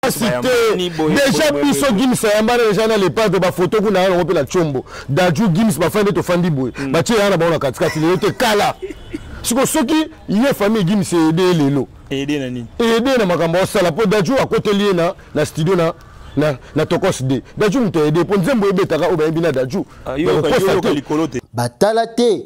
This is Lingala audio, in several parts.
pasi te deja biso gims ayambana deja na lepante bafoto kuna yango mpe na combo daju gims bafai nde tofandi boye hmm. batie yanga na bango na katikati lelo te kala siko soki ye famille gims eyede ye lelo eyede na makambo osala mpo daju akoteli ye na studio na na, na tokos de daju moto ayede mpo nzembo ebetaka oyo bayebi na daju ah, bakokosa te batala te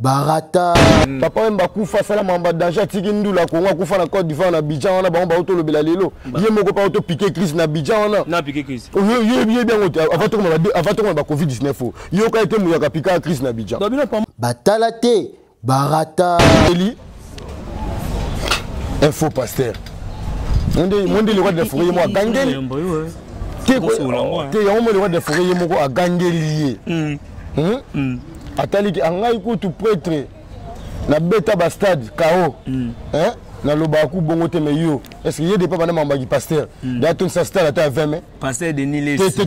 barata mm. papa wemba akufa asala mamba danger atiki ndula kongo akufa na cote d'ivoire na bidjan wana bango bango tolobela lelo ye moko mpa topike crise na bidjan wana yeyebi yango te ava tokoma ba covid 19 o yoka ete moyaka pikaka crise na bidjan batala te barata eli un faux pasteur monde le roi de la forêt ye moko agangeli te yango monde le roi de la forêt ye moko agangeli ye hmm? mm. ataliki angai kutu pretre nabeta bastade kao mm. eh? nalobaka ku bongo te me yo est ce que ye depa bana mambaki pasteur mm. da tondisa stade ata ya 20 mai pasteur denis lesi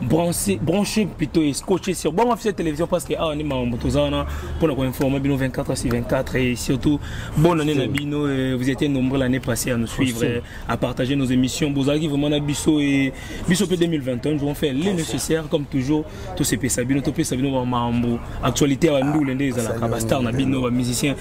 branche branche plutôt et scotché sur bon cette télévision parce que ah ni mambo tozana pour nous informer bino 24 sur 24 et surtout bonne année na bino vous étiez nombreux l'année passée à nous suivre à partager nos émissions bozaki vraiment na biso et biso pe 2021 nous on fait le nécessaire comme toujours tout ces pesa bino to pesa bino mambo actualité à ndule nde ezala ka star na bino ba musiciens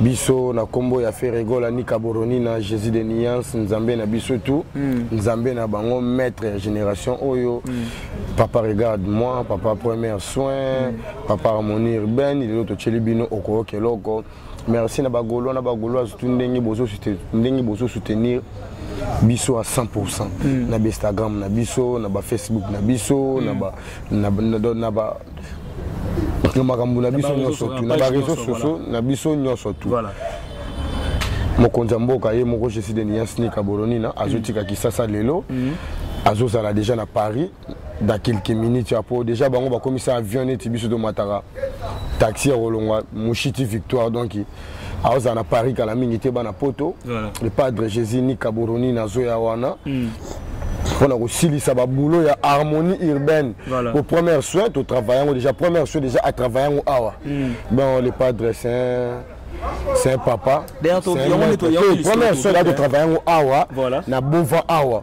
biso na kombo ya Ferregola Nika Boronina Jésus de Nuance Nzambe na biso tout mm. Nzambe na bango maître ya génération oyo mm. papa regarde moi papa premier soin mm. papa harmonie urbaine lelo totyeli bino okoyoka eloko merci na bagolo na bagoloise tu ndenge bozo ndenge bozo soutenir biso à 100% mm. na Instagram na biso na ba Facebook na biso mm. na ba na, na, na, na ba na makambo na biso nyonso tu na bareseau sociaux na biso nyonso tu mokonzi ya mboka ye moko jesi de niasni kabolonina azotika kisasa lelo mhm. azozala deja na paris da quelques minutes ya po deja bango bakomisa avion neti biso tomataka taxi ya kolongwa mushiti victoire donc aozala na paris kala mingi te bana poto le padre jésus ni kaboroni nazoya wana mm. mpona kosilisa baboulot ya harmonie urbaine voilà. po première soin totravaille yango déjà première soin déjà atravaille yango awa mm. bon le padre saint c'est un papa première soin da totravaille yango awa na bova awa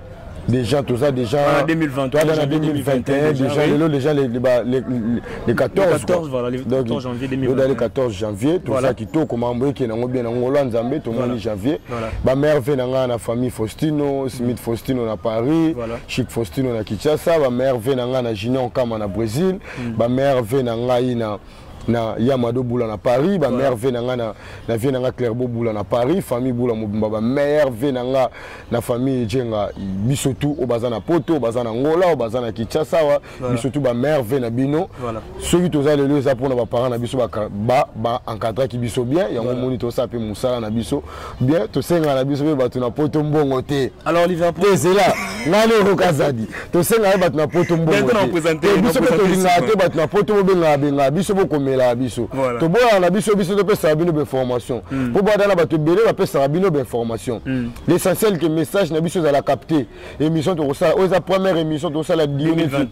déjà toza déjà ah, toza na 2021 déjà lelo déjà le 14 toza le 14 janvier toza kitoko mambo eke nango bien na ngolo ya nzambe tomoni janvier bamerve na ngai na famille faustino smith faustino na paris chic faustino na kinshasa bamerve na ngai na junior nkama na brésil bamerve na ngai na na ya mado bula na paris ba mère vie na nga na, na vie na nga clairbo bula na paris famille bula mobimba ba mère vie na nga na famille jenga biso tout oyo baza na poto oyo baza na ngola oyo baza na kinshasa wa voilà. biso tout ba mère vie na bino voilà. soki toza lelo eza mpona baparent na biso ba, ba, ba encadraki biso bien yango voilà. moni tosala mpe mosala na biso bien tosenga na biso mpe bato na poto mbongo te alors liverpool ezela ngani okokazadi tosenga ye bato na poto mbongobiso mpe tolingaka te bato na poto bobengaka bengaka biso bokomelaka biso toboyaka na biso biso topesaka bino bainformation hmm. mpo bada na bato ebele bapesaka bino bainformation hmm. l'essentiel ke message na biso ezala capte émission tokosala oyo eza première émission tokosala dionisi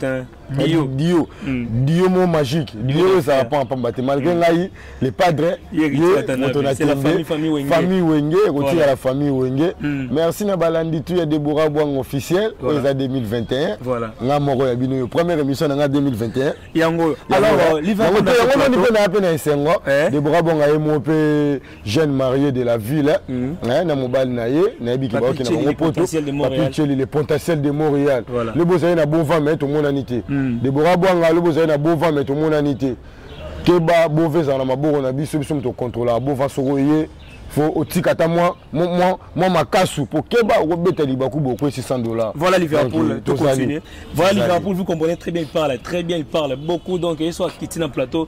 dio dio hmm. dio mo magique dio ezala pamba pamba te malgré hmm. ngai le padre ye moto na tembe famille wenge ekotika la famille wenge hmm. merci na balandi tu ya debora bwang officiel oyo eza 2021 nga moko ya bino yo première émission na nga 2021 yango yango moni mpe na ya mpe na esengo eh? debora bwang aye mo mpe jeune marié de la ville mm -hmm. na mobali na ye nayebi ke baoki na bango poto papicheli le pontatiel de montréal voilà. le bozali na bovant mai tomonani te mm. debora bwanga le bozali na bovant mai tomonani te keba bova ezala na maboko na biso biso moto okontrolaka bova soko oye faut otika ata mwa mwa mwa makasu po keba okobeta libaku bokwesi 100 dollars voilà liverpool euh, to continue voilà liverpool vous comprenez très bien il parle très bien il parle beaucoup donc il soit quitté na plateau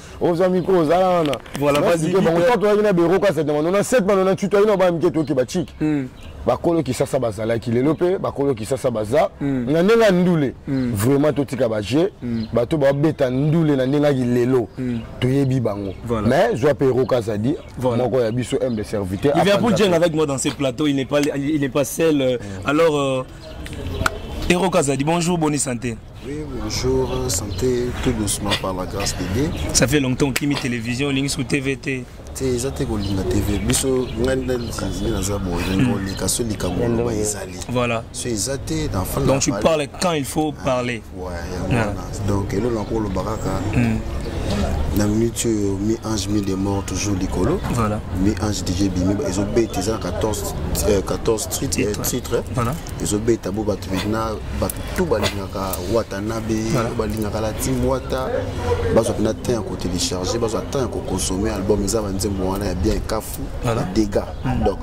oza miko ozala wana toyaki na bero kasa na manona 7 manona ntutu ayina bana mike toyoki bachiki hmm. bakolo kisasa bazalaki lelo mpe bakolo kisasa baza hmm. na ndenge ya ndule hmm. vraiment totika baje bato babeta ndule na ndenge yaki lelo toyebi bango mais zwa mpe eroka azadi moko ya biso m de serviteur il vient pour jeng avec moi dans ce plateau il n'est pas, il n'est pas seul euh, alors euh, eroka azadi bonjour boni santé Oui, bonjour, santé, tout doucement par la grâce de Dieu. Ça fait longtemps que Kimi Télévision, Links ou TVT. te eza te kolinga tv biso ngai nde naza boye ndenge oleka so likambo oloba ezali voilà so eza te na fanda donc tu parles quand il faut parler ouais yango wana donc eloko nako oloba kaka na minute oyo mi ange mi de mort toujours likolo voilà. mi ange dj bimi ezobeta eza na 14 titre titre ezobeta bo bato maintenant bato tout balingaka watanabe balingaka la team wata bazwa mpena temps ya kotelecharge bazwa temps ya koconsomme album eza banzembo wana ya bien kafu degat hmm. donc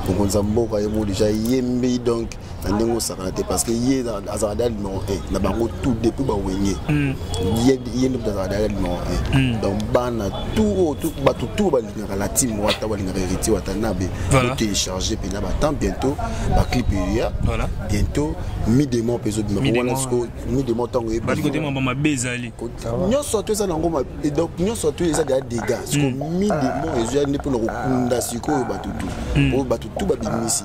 mokonzi ya mboka ye mo deja yembi donc na ndenge osakana te parce que ye azalaka dea numero 1 na bango tout depuis bawenge hmm. ye nde azalaka dea numero 1 hmm. donc bana tout bato tout balinga balingaka la team wata balingaka héritier watanabe voilà. télécharge mpena batemp bientôt baclip eya voilà. bientôt midemon mpe ezobima wana siko midemon ntango eyebali kote mamba mabe ezali nyonso ato eza nango donc nyonso ato eza deya dégât siko midemon ezoya nde mpona kokunda sikoyo bato tu oyo bato tu babimisi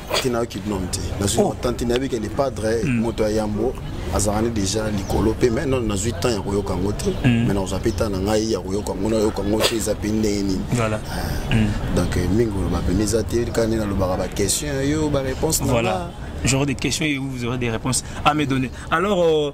tantine ayoki binom te nazwi oh. tantine ayebiki le padre hmm. moto ya yambo azalani déjà likolo mpe mai nano nazwi temps ya koyoka yango te hmm. mai nakozwa mpe ntan na ngai ya koyoka yango nayoka yango te eza mpe ndenge nini ah. hmm. donc eh, mingi oloba mpenza eza te kaka nde nalobaka baquestion yo baréponse nanga genre de questions et vous aurez des réponses à me donner. Alors, euh,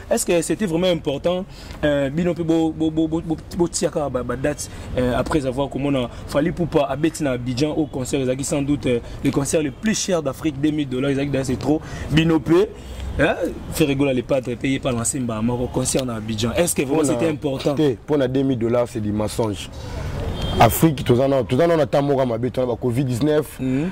est ce que c'était vraiment important euh, bino mpe botiaka badate euh, après avoir komona fali poupa abeti na abidjan au concert ezalaki sans doute euh, le concert le plus cher d'afrique 2000 dollars ezalaki dase trop bino mpe hein, ferregola le padre payé par lansemba moko concert na abidjan est ce que vraiment c'était important te mpo na 2000 dollars c'est du mensonge afrique toza nao na ntango moko ya mabe tona ba covid 19 mm -hmm.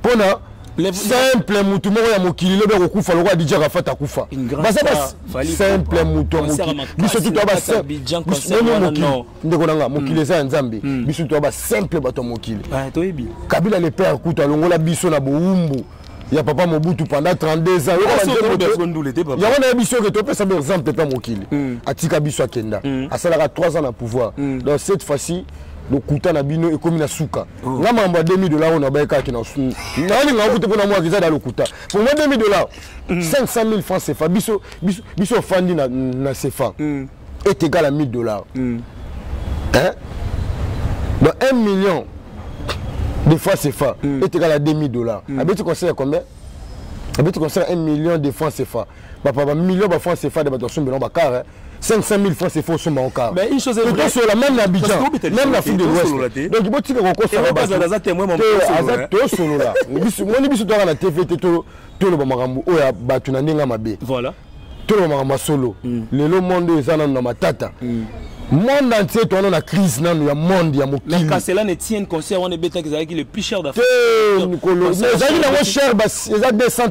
mpo na simple mutu moko ya mokili lobi akokufa lokola dj arafat akufa baza simple mutu ya mokili biso tutu ya baomokili ndeko na nga mokili eza ya nzambe biso tutu ya basimple bato ya mokili kabila le père kutu alongola biso na bowumbu ya papa mobutu pendant 32 ans yango naye biso oke topesa ba exemple mpe mokili hmm. atika biso akenda hmm. asalaka 3 ans na pouvoir hmm. donc cette fois-ci lokuta na bino ekomi na suka Oh. nga makambo ya 2000 dollar oyo nabaye kaka kina nalinga kutu mpo namwaki eza da lokuta pour moi 2000 dollar 500 000 francs cefa biso biso ofandi na, na cefa mm. est égal à 1000 dollars mm. hein? dans 1 million de francs cefa mm. est égal à 2000 dollars mm. abeti conseil ya combien abeti conseil ya 1 million de francs cefa bapa bamillion ba francs cefa de bato basumbela bakare 500 000 francs c'est faux sur mon car. Mais une chose est vraie. Sur la même Abidjan, même la fille de l'Ouest. Donc bon tu que qu'on soit pas dans la témoin mon azat to solo là. Bisu moni bisu toi la TV te to to le bamakambu o ya batu na ndinga mabe. Voilà. To le makambu solo. Mm. Le le monde eza na matata. Mm. monde entier towana na crise nanu ya monde ya mokili kasela ne tienne concert wana ebetaki ezalaki le plus cher d'afrique te mokolo ezalaki nango cher ezalaki 200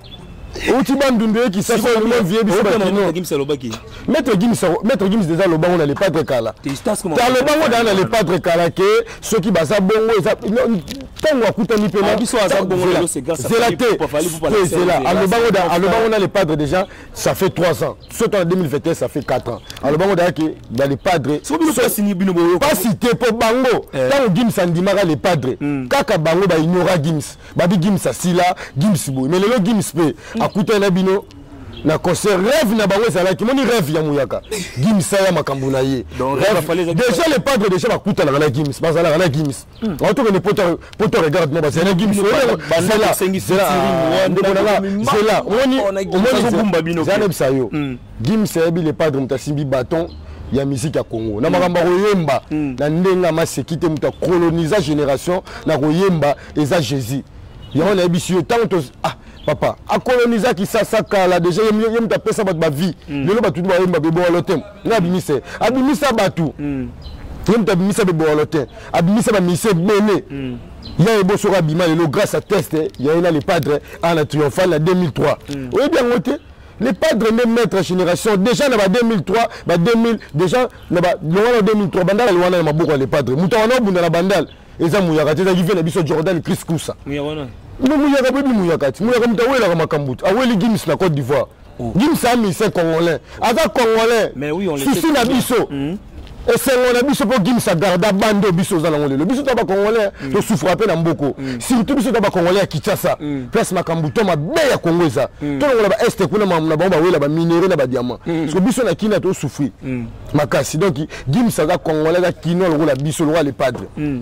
outi bandundu ye kisasa olingo vie biso bakino maître gims maître gims déjà lobango na lepatre kala ta lobango daa na lepatre kala ke soki baza bongo eza ntango akutani mpe zela te zela alobango da alobango na lepatre déjà ça fait 3 ans soki na 2021 ça fait 4 ans alobango daya ke na lepatre pasi te mpo bango ntango gims andimaka lepatre kaka bango baignorat gims babi gims asila gims boye mais lelo gims mpe mm. akutani na bino na concert rêve na bango ezalaki moni rêve ya muyaka gims aya makambo na ye déjà le padre déjà bakutanaka na gims bazalaka na gims aotokende hmm. poto regarde mo bazali na gims zela omonizala nabisa yo hmm. gims ayebi le padre moto asimbi bâton ya miziki ya congo na makambo ya koyemba hmm. na ndenge amaseki te moto akolonisa génération na koyemba eza jésus yango nayebisi yo ntango to ah, papa akolonisa kisasa kala deja ye moto apesa bato bavie mm. lelo bato nde bayemba bebowalo te nga abimisa ye abimisa bato mm. ye moto abimisa bebowalo te abimisa bamise ebele mm. ya ebo soki abima lelo grâce à test eh, ya ye na le padre ana triomphal na 2003 oyebi yango te le padre nde maître génération déjà na ba 2003 ba 2000 déjà na ba longwa na 2003 bandala lwana na maboko ya le padre moto wana obunda na bandala eza muyaka te ezalaki vie na biso jordan chris kusa no muyaka boyebi muyaka ti muyaka moto awelaka makambo te aweli gims na cote d'ivoire oh. gims amise congolais aza congolais susi na biso hmm. esengo na biso mpo gims agarda bande oyo biso oza nango lelo biso to bacongolais hmm. tosufra mpe na mboko hmm. surtout biso to bacongolais ya kinshasa place makambo to mabe ya congo eza tolongola baeste kuna na bango bawela baminerai na badiamant parce que biso na kina tosufri makasi donc gims aza congolais aza kinois lokola biso lokola le padre mm.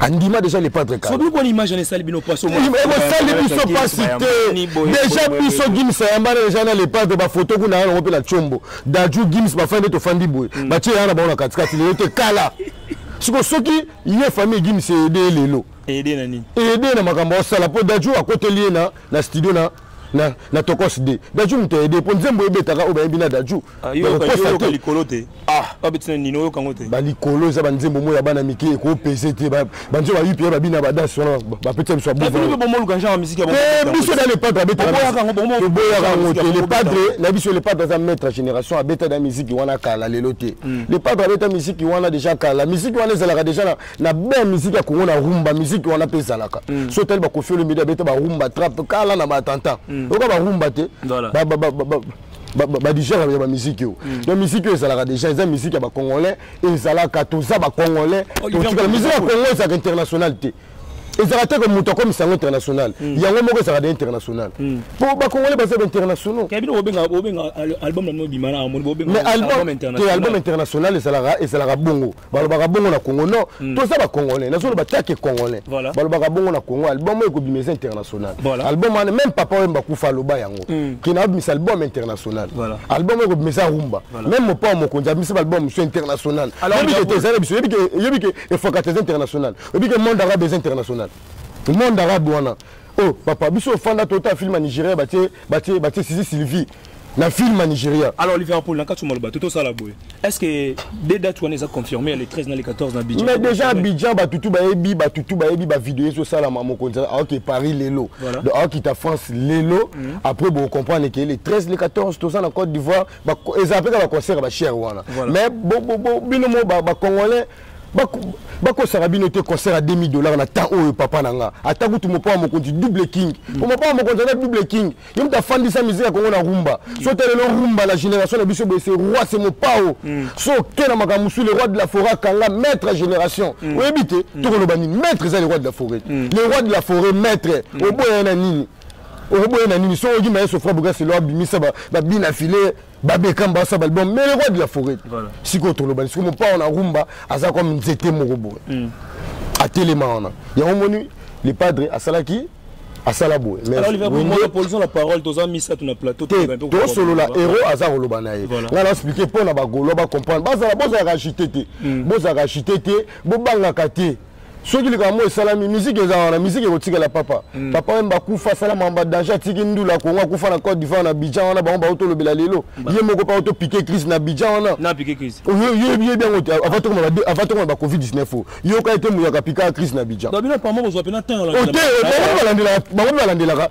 andima déjà le padre ekosali biso mpasi te déjà biso gims ayambana déjà na le padre bafoto kuna yango mpe na combo daju gims bafai nde tofandi boye mm. batie yanga na bango na katikati lelo te kala siko soki ye famille gims ede lelo ede na makambo osala mpo daju akoteli ye na studio na na, na tokos de daju moto aide mpo nzembo ebetaka oyo bayebi na daju ah, likolo te ah. babetina nini oyoka yango te balikolo eza banzembo moko ya bana mike ekopese te banzembo bayipi ya babina badansi wana bapetisa biso biso na lepadre abetatoboyaka yango te lepadre na biso lepadre aza maître génération abeta na miziki wana kala lelo te hmm. lepadre abeta miziki wana deja kala miziki wana ezalaka deja na na belle musique ya congo na rumba musique wana mpe ezalaka mm. so otali bakofi olomide abeta barumba trappe kala na baattentat mm. oyoka barumba te badigere ya bamiziki oyo mm. na miziki oyo ezalaka déjà eza miziki ya bacongolais ezalaka toza bacongolais oh, totikala miziki ya congo ezalaka international te ezalaka te ke moto akomisa yango international mm. yango moko ezalaka de international mm. po bacongolais baza bainternationaux mais album international ezalaka bongo balobaka bongo na congo non mm. toza bacongolais nazoloba take congolais voilà. balobaka bongo na congo album oyo ekobima eza international voilà. album wana même papa oyo mbakufa aloba yango mm. kina abimisa album international voilà. album oyo ekobima eza rumba voilà. même mopao mokonzi abimisa baalbum mosusu international yebi ke tezala biso yebi ke efokate eza international yebi ke monde arabe eza international monde arabe wana oh papa biso ofanda tota film ya nigeria batie batie batie sisi sylvie na film ya nigeria alors liverpool na kati maloba totosala boye est ce que de date wana eza confirmé ya le 13 na le 14 na abidjan mais déjà abidjan batutu bayebi batutu bayebi bavideo ezosalama mokonzi aoke paris lelo donc aokita france lelo mhm. après bocomprendre ke le 13 le 14 toza na côte d'ivoire eza mpe kaka baconcert ya bachere wana mais bino mo bacongolais bakosaka bino te concert ya 2000 dollar na temps oyo papa na nga ata kutu mopaa mokonzi double king po mopaa mokonzi aza double king yo moto afandisa miziki ya kongo na rumba so te lelo rumba na génération na biso boye se roi se mopao mm. so oke na makambo mosusu le roi de la forêt akanga maître ya génération mm. oyebi te mm. tokoloba nini maître eza le roi de la forêt le roi de la forêt maître oboya na nini okoboya na nini so oyoki maye sofra bokaselo abimisa babina file babekam basa balbum mais le roi de la forêt sikoyo tolobani sikoyo mopao na rumba aza comme nzete moko boye mm. atelema wana yango omoni le padre asalaki asala boye tosolola hero aza koloba na ye ngai naexplike mpo na bagolo bacomprendre bozalaka agite te hmm. bozalaka agite te bobangaka te soki likambo moko esalami miziki eza wana miziki ekotikala papa mm. papa wemba akufa asala mamba danger atiki ndula kongo akufa na cote d'ivoire na bidjan wana bango bao tolobela lelo ye moko mpa otopike crise na bidjan wana oyebi yebi yango te ava tokoma ba covid 19 o yoka ete moyaka pikaka crise na bidjan ote bango mpe balandelaka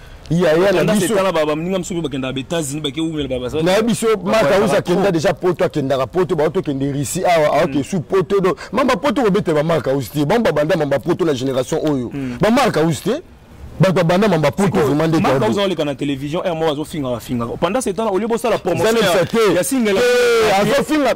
yaya na biso etala baba mninga mosusu mpe bakendaka baétats-unis bakeumela baba na ye biso mata usa akenda deja poto akendaka poto baoto okende russie awa aoke hmm. su poto do mamba poto kobetela bamarka usi te bango babanda mamba poto na génération oyo hmm. bamarka usi te bato babanda mamba poto vraimen ndeoza oleka na télévision r moko azofingaka fingaka pendant ce temps au lieu bosala promotion ya singela eh, azofinga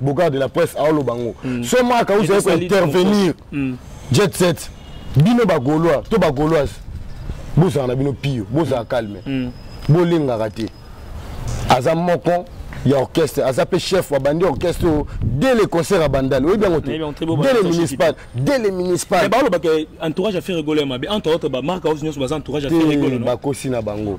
bogard de la presse aoloba yango mm. so maka ozali kointervenir mm. jet set bino bagolois to bagoloise bozala na bino pio bozala calme mm. bolingaka te aza moko ya orchestre aza mpe chef abandi orchestre oyo dès le concert abandali oyebi yango te dès le municipal dès le municipal balobaka entourage ya ferre golo ya mabe entre autres bamarka oyo nyonso baza entourage ya ferre golo bakosi na bango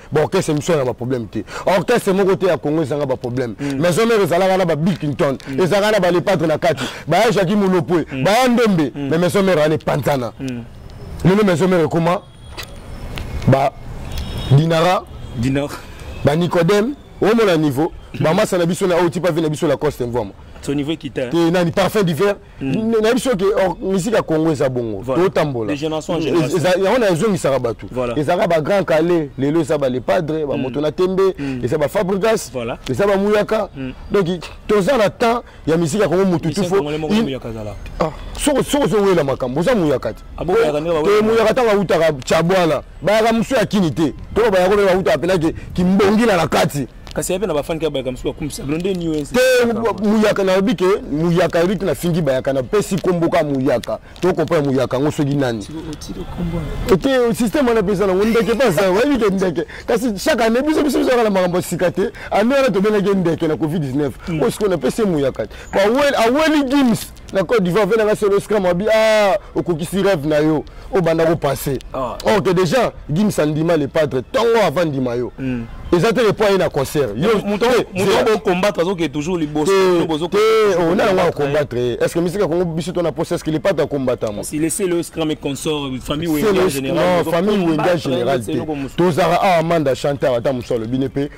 ba orchestre miso na ba problème te orchestre moko te ya Congo ezanga ba problème mm. maison mère ezalaka na ba Billington mm. ezalaka na ba le padre na kati ba ya Jacques Mulopwe mm. ba ya Ndombe mais maison mère ane panzana lelo maison mère ekoma ba Dinara Dinara ba Nicodème omona niveau ba masa na biso na oyo tipa vie na biso la coste mvoma son niveau ekita te nani parfum d'hiver Mm. nayebi biso ke oh, misiki ya congo eza bongo totambola yango na ezongisaka bato ezalaka bagrand kale lelo eza balepadre bamoto mm. na tembe mm. eza bafabrigas eza bamuyaka donc toza na temps ya misiki ya congo motu tufo ah, soko ozowela makambo oza muyaka te ah, muyaka ntango awutaka cabwana bayaka mosu ya kini te to bayako mpe bawutaka mpenake kimbongila na kati kasi yape na bafani kaka bayaka mosusu bakumisa bino nde nini te muyaka nalobi ke muyaka eliki nafingi bayaka napesi nkombo kaka muyaka tokompona muyaka yango soki nani te systeme wana mpeza nango ndeke mpasa oyebi ke ndeke kasi chaque année biso biso biso yaka na makambo ya sika te année wana tobelaki ndeke na covid 19 oyo sikoyo napesi ye muyaka te aweli gims na Côte d'Ivoire vena nga solo scram abi ah okokisi rêve na yo obanda ko passer ah. or que déjà Gims andima le padre tongo avant ndima yo mm. eza te point na concert yo moto bo combattre azoke toujours liboso bozo ko on a on combattre est ce que musique kongo biso to na poste est ce que les pattes combattre moi si laisser le scram et consort famille ou en général non famille ou en général tozara a ah, amanda chanteur ata musolo binepe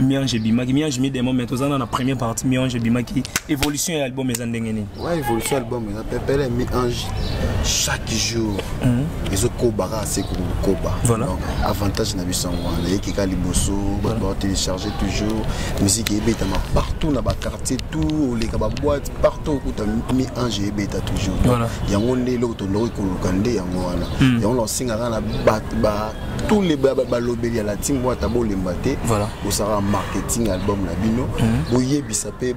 miange ebimaki miange mi demo mais toza na première partie miange ebimaki évolution ya album eza ndenge nini ouais, évolution ya album eza pepele miange chaque jour mhm. ezokoba kaka se kokoba voilà. avantage na biso yango wana eyeki kaka liboso bato baotélécharge toujours musike ebetama partout na baquartier tout oleka baboite partout okuta miange ebeta toujours yango nde eloko tondoki koluka nde yango wana mhm. yango na osengaka na tous les balobeli ya la team wata bolemba te voilà. bosala marketing album na bino mhm. boyebisa mpe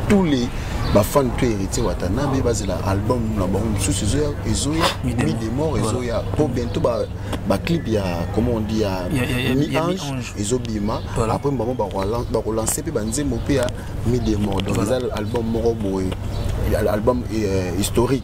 tous les bafan mpe héritier watanabe bazela album na bango mosusu ezoya ezoya mi de mort ezoya mpo bientôt baclip ya comment on dit ya mi ange ezobima après bango bakolanse mpe banzembo mpe ya mi de mort donc eza album moko boye album euh, historique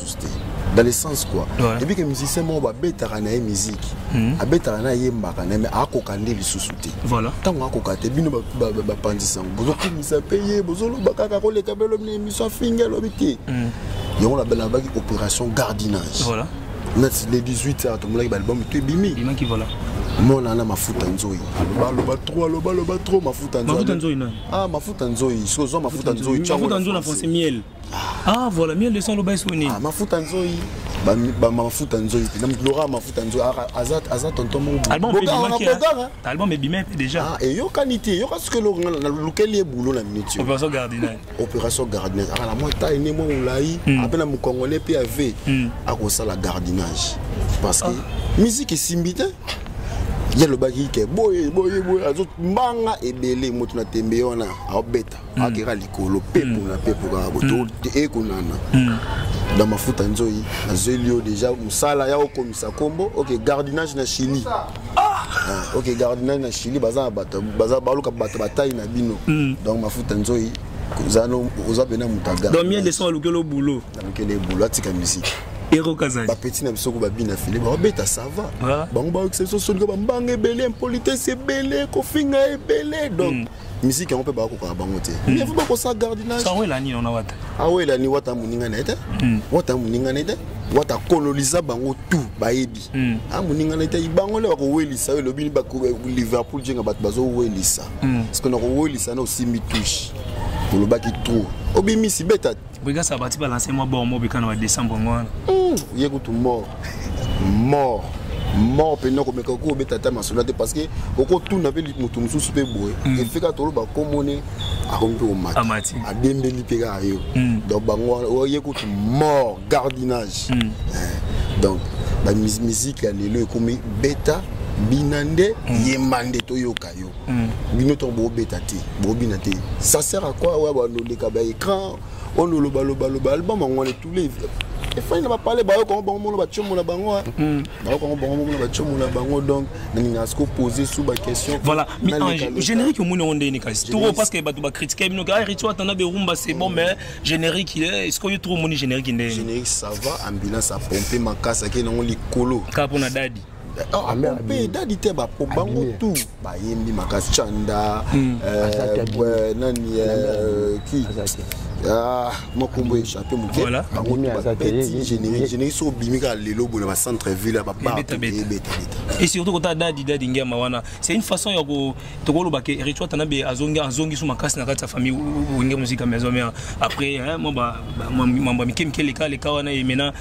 tous te dans le sens quoi ouais. ebi ke musicien moko babetaka na ye musique mm. abetaka na ayembaka na ye mais akoka nde lisusu te voilà. ntango akoka te bino bapanzisa yango bozokumisa mpe ye bozoloba kaka koleka belo na émission afingi alobi te mm. yango nabelabaki opération gardinage voilà. nati le 18 heures tomonaki baalbum to ebimi voilà. mona na mafuta nzoi baloba tro aloba loba tro mafuta nzoi ah mafuta nzoi soki ozwa mafuta nzoi ah voilà 1200 aloba esu nini ah, mafuta nzoyi mafuta nzoyi te namplora mafuta nzoyi aza tonton moalbum ebima mpe déjà ah, eyokani te eyoka soki nalukeli ye boulot na minute opération gardinal opération gardinage aka na mwa taille ne mwa molai hmm. ape na mokongole mpe ave hmm. akosala gardinage parce que ah. musique esimbi te ye alobaki ke boye boye boye azombanga ebele moto na tembe wana aobeta hmm. akeka likolo pepo na pepo kaka boye hmm. ekonana hmm. na mafuta nzoi nazweli yo deja mosala ya okomisa nkombo ok gardinage na chili ah! ah, ok gardinage na chili baza na bato baluka bato batai na bino donc mafuta nzoi oza pena moto agadon mie leson alukeli obulo alukeli ebulo atika misiki bapeti na biso ko babina file babeta sava bango bayokisa biso sonika bambanga ebele impolitesse ebele kofinga ebele donc mm. miziki yango mpe bakokaka bango te mm. evi bakosa gardinageawelani ona wata awelani wata moninga na ye te mm. wata moninga na ye te wata akoloniza bango tout bayebi mm. a ah, moninga na ye te bango nde bakowelisa oyo elobi liverpool jenga bato bazowelisa parceke nakowelisa na osimbi touche olobaki trop obimisi beta Brigade ça bati balancer moi bon moi bikana wa décembre ngwana. Hmm, ye kutu mort. Mort. mort mpenza okomeka okoki kobeta ata masolo te parce que okotuna mpe moto mosusu mpe boye hmm. efeka toloba komone akomi mpe komata adembeli mpe kaka yo hmm. donc bango oye kutu mort gardinage hmm. eh, donc bamiziki ya lelo ekomi beta bina nde yemba nde toyoka na yo hmm. bino ntango bobeta te bobina te ça sert à quoi oya banoleka baécran ono lobalobaloba album yango wana tous les efai na bapale bayokango bango mona batiomo na bango hmm. bayokango bango mona batiomo na bango donc nalingaka siko pose sous baquestion voilà mais en générique omoni yango ndenge kasi toro parce que bato bakritike bino ke aritio ah, atanda berumba c'est bon hmm. mais générique eh, est ce que yo toro omoni générique ndenge générique ça va ambulance apompe makasi akei nango likolo kaka mpo na dadi mpe edadi te bapo bango tu bayembi makasi canda hmm. euh, nani euh, ki ah, makombo echape moke bango bapeti générique soki obimi kaka lelo boye na bacentre ville ya babaebetabeta et surtout kota dadi dadi ngema wana c'est une façon ya tokoloba ke ritual tanabe azongi so makasi na kati ya famille wenge mosika maison mare après mambo ya mike mike leka leka wana emena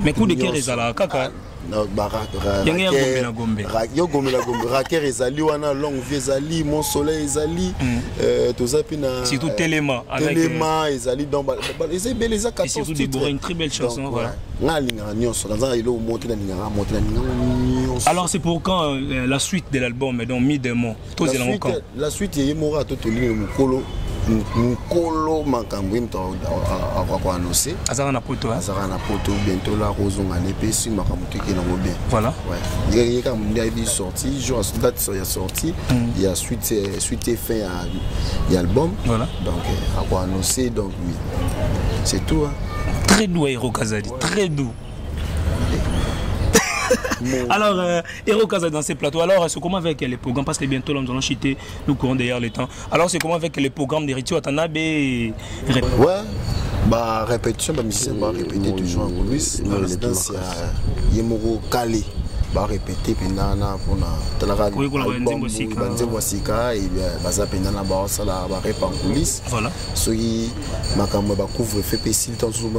mais coup de cœur ezalaka kaka ndenge ya gombe na gombe yo gombe na gombe raker ezali wana longue vie ezali mon soleil ezali mm. euh, toza mpe na surtout euh, telema telema euh, ezali donc eza ebele eza 14 titre une très belle chanson voilà nga alingaka nyonso naza eloko moko te nalingaka mote nalingaka nyonso alors c'est pour quand la suite de l'album donc mi demo tozela ngo camp la suite ye moko atotoli le mukolo mukolo makambo ye moto akoako annonce azalaka na poto azalaka na poto bientôt la akozonga ne mpe si makambo tokei nango bien voilà ye kaka mondi ayebi sorti jour date ya sorti hmm. ya suite eh, suite fin ya album voilà donc eh, ako annonce donc c'est tout hein. très doux aero kazadi très doux Alors, euh, Hero Kaza dans ses plateaux. Alors, c'est comment avec les programmes Parce que bientôt, là, nous allons chiter, nous courons derrière le temps. Alors, c'est comment avec les programmes de Ritio Atanabe Ouais, bah, répétition, bah, musicien, bah, répéter toujours en coulisses. La résidence, il y a Yemoro Kali. barepete mpenza na mpona talaka banzembo ya sika baza mpenza na baosala barepa en coulisse soki makambo ya bacouvre fe mpe esili ntango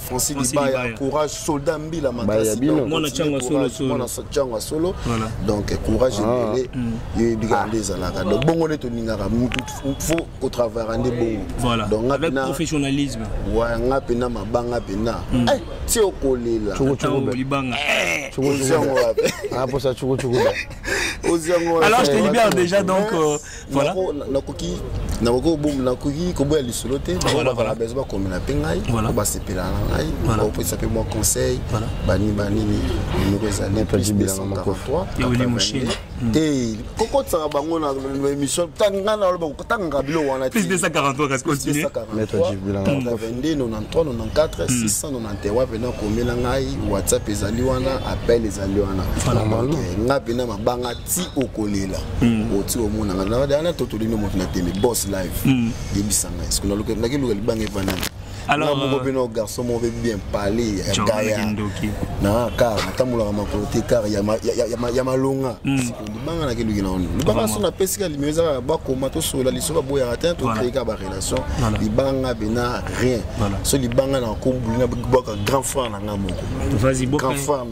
Francis Libaya, courage, soldat Mbila Makasi, mwana chango solo solo, mwana chango solo, donc courage ah. ebele, mm. yo ebika nde ezalaka, donc bongo nde tolingaka, faut ko travailler nde bongo, voilà, donc avec professionnalisme, ouais, nga pena mabanga pena, mm. eh, ti okolela, choko choko be, libanga, eh, choko choko, ah pour ça choko choko be, alors je te libère déjà donc. Euh, voilà nakoki nakoki koboya lisolo te bazala bezo bakomela mpe ngai basepela na ngai baopesa mpe mwa conseil banini banini minoko ezali plus 243 te kokotisaka bango na émission ngai naloba kotangaka bilo wana te 243 691 mpena komela ngai whatsapp ezali wana appel ezali wana ngai mpena mabanga ti okolela hmm. oti oh, omonanga na wana totoli nde moto na teme boss live hmm. yebisa ngai soki nalukaki luka libanga epa nani alors moko mpe no garçon moko mpe bien parle ya gaya na kar natambolaka makolo te kar ya malonga hmm. libanga nake eluki na ono libanga so napesika limio eza kaka bakoma tosolola liso baboyaka te tokreyika barelation libanga bena rien so libanga na kobuli na bwaka grand frère na ngai moko grand frère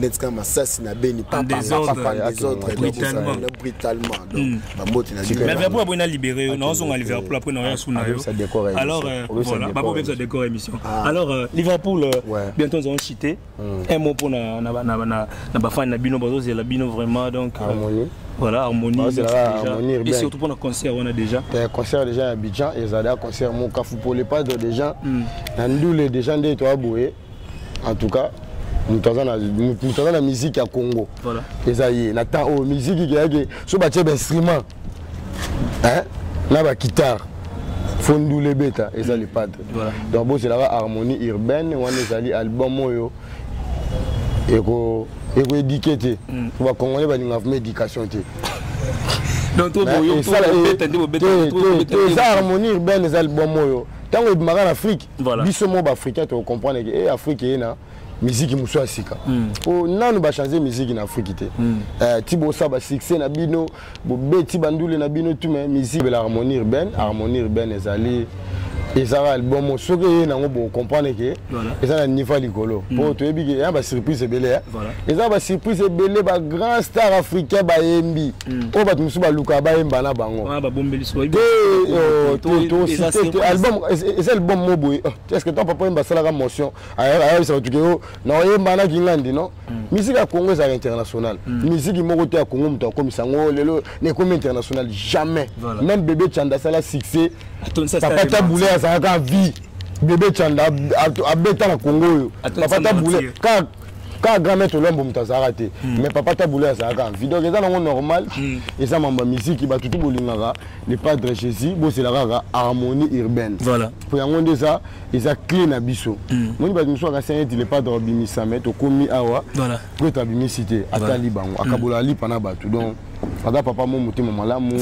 neti kaka masasi na beni brutalement hmm. bambote na liverpool aboyi na libere yo naozonga liverpool apres naoya su na yo alors euh, voilà bakobebisa décor émission ah. alors euh, liverpool euh, bientôt nous allons chiter hmm. un mot mpo na bafani na bino bazozela bino vraiment donc ah, voilà harmonie et surtout pour le concert on a déjà le eh, concert déjà à Abidjan et Zada concert mon Kafou pour les pas de déjà hmm. Nandoule déjà nde to aboye en tout cas moto aza na miziki ya congo eza ye na temps oyo miziki keyake so batye bainstrument na bakitare fo ndula ebeta eza le padre donc bozelaka harmonie urbaine wana ezali album oyo ekoedike te mm. po bacongolais balingaka vraimen éducation te eza harmonie urbaine eza album oyo ntango ebimaka na afrique voilà. biso moko baafricain tokocomprendre ke e eh, afrique eye na miziki mosusu ya sika mpo hmm. nanu bachange miziki na afrique te hmm. eh, ti bosa basuccès na bino bobeti bandule na bino tume miziki bela harmonie urbaine harmonie urbaine ezali ezalaka album soki eye nango bocomprendre ke eza na niveau ya likolo mpo hmm. toyebi ke ya basurprise ebele eh. eza ba surprise ebele ba grand star africain bayembi hmm. oyo bato mosusu balukaka bayemba na bango ah, eza album mo boye oh, est ce que ton papa oyemba asalaka motion ayebisa bato keyo na oyemba na kingandi non hmm. miziki ya congo ezalaka international hmm. miziki moko te ya congo moto akomisa yango oh, lelo nekomi international jamais même bebe chanda asala succès papa tabule azalaka vie bebe chanda abeta na congo oyo papa tabule kaka kaka grand maître lwambo moto azalaka te hmm. mais papa tabula azalaka vie donc eza nango normal hmm. eza mambo ya miziki bato tu bolingaka le padre jésus bozela kaka harmonie urbaine po yango nde eza eza clé na biso hmm. moni bato mosusu akasi neti le padre abimisa me tokomi awa po ete abimisi te atali bango akabola alipa na bato donc aza papa mo motema malamu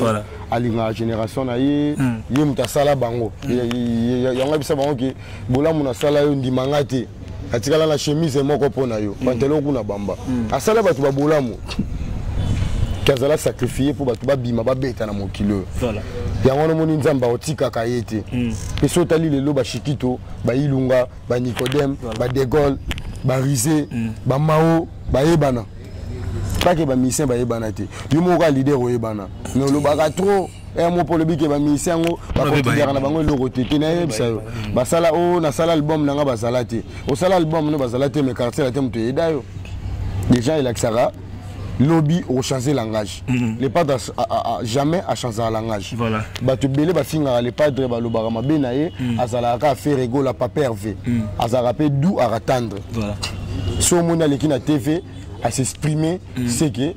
alingaka génération na ye ye moto asala bango yango abisa bango ke bolamu nasala yo ndima nga te atikala na chemise moko mpo na yo pantelo mm. kuna bamba mm. asala bato babolamu ke azala sacrifie mpo bato babima babeta na mokili oyo yango wana omoni nzambe akotikaka ye te mm. mpe so otali lelo bashikito bailunga banicodeme badegole barise bamao bayebana kake bamisien bayebana te yo moko ka leader oyebana mais olobaka trop eh, mopo olobi ke bamilisi yango bakotiaka na bango eloko te te nayebisa yo basala o oh, nasala album na nga bazala te osala album no bazala te me quartier la te moto eyeda yo déjà elakisaka lobi ochange langage mm -hmm. le padre a, a, a, jamais achangaka langage voilà. bato ebele bafingaka le padre balobaka mabe na ye mm -hmm. azalaka kaka fere egola papa herve mm -hmm. azalaka mpe du akatandre voilà. so omoni aleki na tv asexprime mm -hmm. seke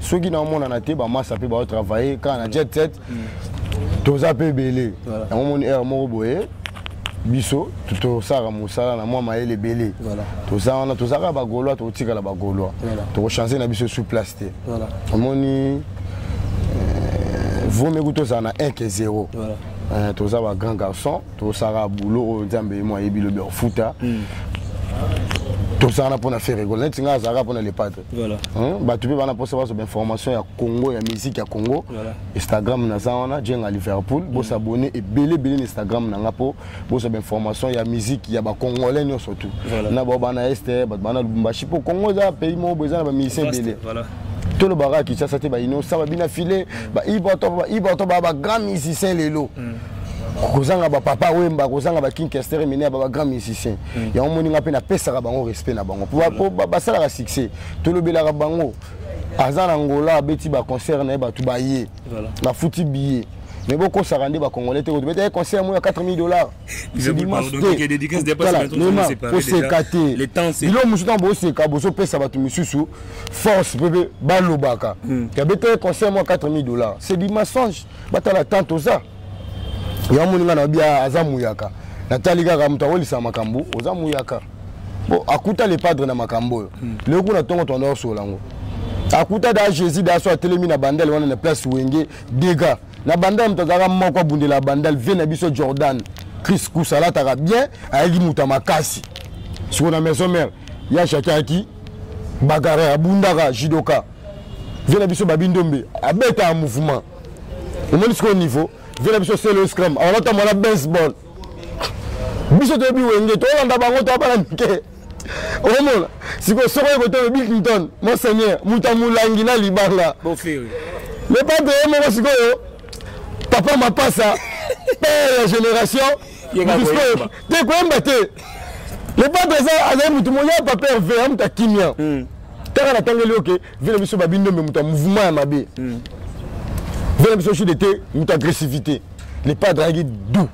soki naomonana te bamasa mpe baotravaille kaka na jet set mm. toza mpe ebele yango moni heure moko boye biso tosalaka mosala na mwa mayele ebele toza wana toza kaka bagaulois tokotikala bagaulois tokochange na biso sous place te omoni euh, vomi kutu tozala na 1 ke 0 euh, toza ba grand garçon tosalaka boulot oyo nzambe ye mo ayebi lobi ofuta hmm. tozala na mpo na ferre gol neti ngai azalaka mpo na le padre voilà. hein? bato mpe bana mposa bazwa bainformation ya congo ya musique ya congo voilà. instagram naza wana jenga liverpool mm. bosabone ebele ebele na instagram na nga mpo bozwa bainformation ya musique ya bacongolais nyonso tout voilà. na bao bana este bato bana lubumbashi mpo congo eza pays moko boye eza na bamusicien ebele voilà. tolobaka kinshasa te bainosa babina file baibato ba bagrand musicien lelo mm. kozanga bapapa wemba kozanga bakinkester mine ya babagrand musicien mm. yango moni nga mpe napesaka bango respect na bango po basalaka succès tolobelaka bango aza na angola abeti baconcert na ye bato baye bafuti billet mais bokosaka nde bacongolais te kotobeta ye concert moyo ya 4000 dollars koseka te bilo mosusu ntango boseka bozopesa bato mosusu force mpe mpe balobaka yabeta ye concert moyo ya 4000 dollars c'est du mensonge batala temps toza ya moni nga na bia aza muyaka natali kaka moto akolisa makambo oza muyaka bo akuta le padre na makambo oyo hmm. leo kuna ntongo toanda osola yango akuta da jésus da so atelemi na bandale wana na place wenge dega na bandale moto azalaka moko abundela ya bandale vie na biso jordan chris kusa alataka bien ayaki moto ya makasi siko na maison mare ya shakaki bagara abundaka judoka vie na biso babi ndombe abetaka mouvement omoni sikoyo niveau vie na biso selo scram alata mwana baseball biso toyebi wenge tolanda bango toabana mike omona sikoyo soko ye kotoyo bill clinton monseigneur moto ya molangi na libanga le patre ye moko sikoyo papa mapasa père ya génération te koyemba te le padre azali motu moya papa herve ya moto akimia hmm. kaka natangeli yo ke vie na biso babindombe moto ya mouvement ya mabe hmm. vie na biso sud te moto agressivité le padre ayaki doux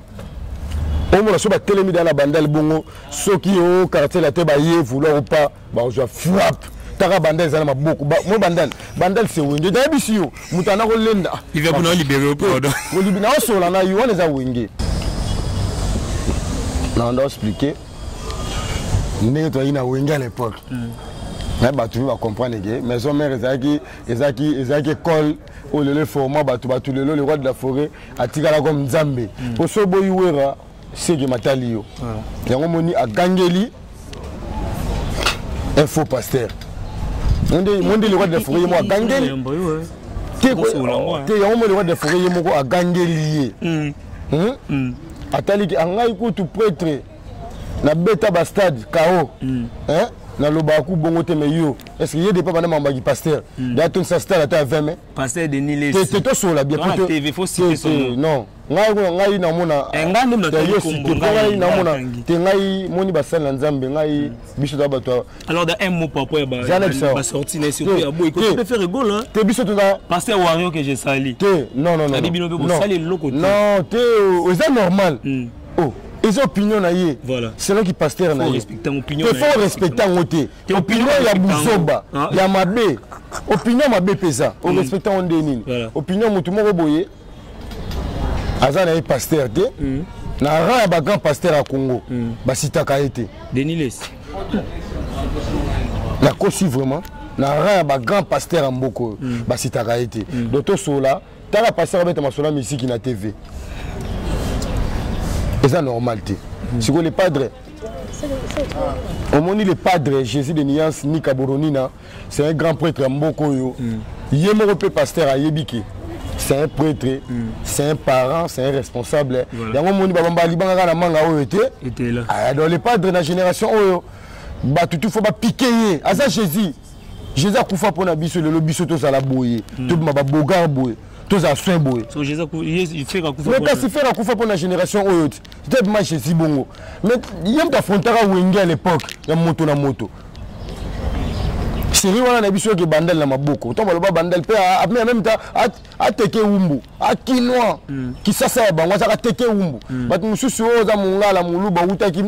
omona so batelemi da na bandal bongo soki o oh, quartier la te baye vouloir ou pas bakozwa frappe taka bandal eza na maboko mo bandal bandal se wenge nayebisi yo moto ana kolenda naosola na yo wana eza wenge nanda explike ndenge toyaki na wenge à l'époque hmm. na bato mpe bacomprendre ke maison mare ezalaki ezalaki ezalaki école oyo lelo eforma bato bato lelo le roi de la forêt atikala comme nzambe mpo hmm. so boyi wera seke matali yo yango moni agangeli un faux pasteur mondele kwa defore ye mo agangeli te yango mondele kwa defore ye moko agangeli ye hmm. Hmm? Hmm. ataliki angai kutu pretre nabeta bastade kao nalobaka ku bongo te mai yo est ce que ye depa banda mamaki pasteur de atondisa stade ata ya 20 mai te tosolola bien non ngai kuna ngai namona eh, ngai namona te ngai moni basali na nzambe ngai hmm. biso toza bato alors da un mot par rapport ya basorti na surtout ya boye kote faire gol te biso toza passe ya wario que je sali te non non non bino mpe bosali eloko te non te oh, eza normal hmm. oh eza opinion na ye voilà. selaki pasteur na ye faut respecte yango te opinion ya buzoba ah. ya mabe opinion mabe mpe eza orespecte hmm. yango nde nini opinion motu moko boye aza na ye pasteur te mm. na rang ya bagrand pasteur ya congo mm. basitaka ye te deniles nakosi vraiment na rang ya bagrand pasteur ya mboka oyo mm. basitaka ye te mm. do tosola tala pasteur abeta masolo ya misiki na tv eza normal te mm. sikoyo le padre omoni le padre jésus de nuance nika boronina c'est un grand prêtre ya mboka oyo mm. ye moko mpe pasteur ayebi ke c'est un prêtre mm. c'est un parent c'est un responsable voilà. yango omoni babamba libanga kaka na manga oyo te ah, donc le padre na génération oyo bato tu fo bapike ye aza jésus jésus akufa mpo na biso lelo biso tozala boye mm. tobima babogar boye tozala soin boye mais kasi fere akufa mpo na génération oyo te tebima jésus bongo mais ye moto afrontaka wenge à l'époque ya moto na moto série wana na biso eke bandal na maboko ntango baloba bandal mpe apena meme ta ateke wumbu akinois hmm. kisasa ya bango azaka teke wumbu hmm. bato mosusu oyo oza mongala moluba awutaki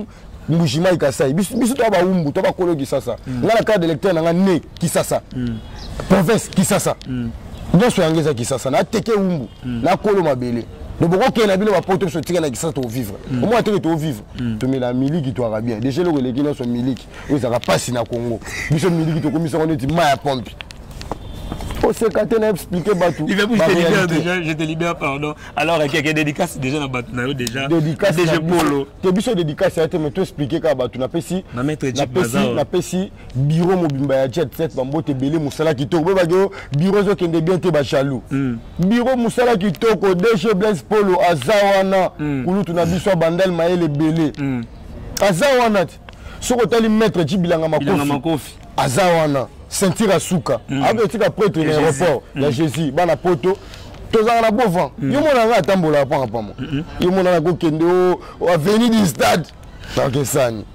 mbujimai kasai biso toa bawumbu to bakolo kisasa hmm. nga na carte d'électeur na nga ne kisasa province kisasa nyonso yango eza kisasa nateke wumbu nakolo mabele donc bokokende na bino bapoto biso tika na kisasa tovivre omona teke tovivre tomela miliki toaka bien deja eloko eleki nyonso miliki oyo ezalaka mpasi na congo biso miliki tokomisi yango neti mai ya pompe oseka te na explike bato je te libère pardon alors ekeke dédicace déjà na bato na yo déjà dg polo te biso dédicace ya te mais toexplike kaka bato napesi napesi biro mobimba ya jet set bambote ebele mosala kitoko boyebaki yo biro ezokende bien te bajaloux hmm. biro mosala kitoko dg blaise polo aza wana hmm. kulutu na biso abandal mayele ebele hmm. aza wana te soki otali maître ji bilanga makofi aza wana ceinture ya suka mm. akoki etika pretre na aéroport ya mm. jésus bana poto tozalaka na beau vent mm. yo mona ngai atambolaka panga pamo yo mona na kokende o avenue du stade nakesani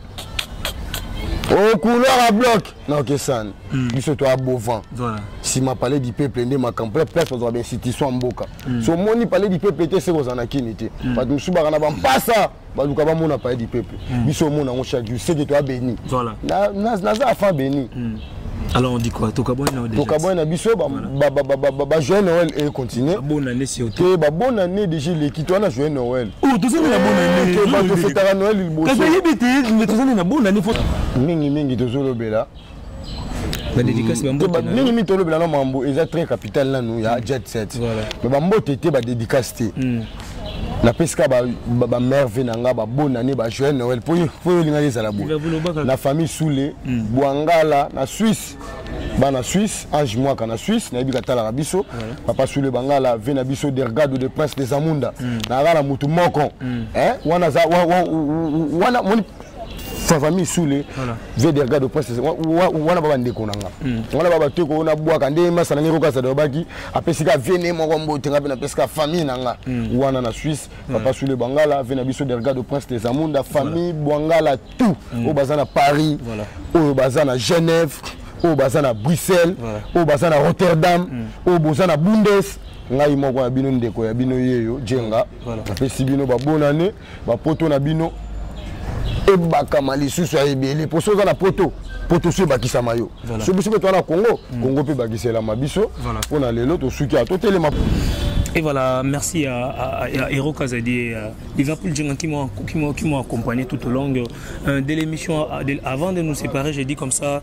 o couloir a bloc nakesani biso toya beau vent nsima palais du peuple nde makambo la place bazwaka bainstitution ya mboka so omoni palais du peuple te se kozala na kini te bato mosusu baka na bampasa baluka bamona paye du peuple hmm. biso omona yango chaque jour seke toa béni naza afan béni hmm. alors on dit quoi tokabwani nao tokabwani na biso bajoyeux noël e continue te babonne année déjà eleki to wana joyeux noël oh, tozali na bonanetofetaka noël libosoyebi te tozali na bonane mingi mingi tozolobela mingi mingi tolobela na mambo eza très capital nanu ya mm. jet set me bambote te badédicace te mm. napesi ka bamerve na nga babona ne bajoyel noel mpo yo elingaki ezala boye na famille soule mm. bwangala na swisse bana suisse ange mwaka na suisse nayebi katalaka biso papa sule bangala ve na biso dergado de prince des amunda mm. nayaka na motu moko mm. eh, wana fafa misule vederga de presse wana ba bandeko na nga hmm. wana ba bato ekoyo nabwaka nde masana ngai kokasa alobaki apesi ka vie ne moko mbote nga mpe napesi ka famille na nga hmm. wana na suisse hmm. papa sule bwangala vie na biso derga de prince des amunda famille bwangala tout oyo baza na paris oyo baza na genève oyo baza na bruxelles oyo baza na rotterdam oyo boza na bundes ngai moko ya bino ndeko ya bino yeyo jenga napesi bino babonane Ba poto na bino ebakama lisusu ya ebele mpo soki oza na poto poto so ebakisama yo so biso mpe toza na congo mm. congo mpe ebakiselama biso mpo na lelo tosuki ya totelema Et voilà, merci à, à, à Hero Kazadi. Euh, Liverpool Djunga qui m'ont accompagné tout au long euh, de l'émission. Euh, avant de nous séparer, j'ai dit comme ça,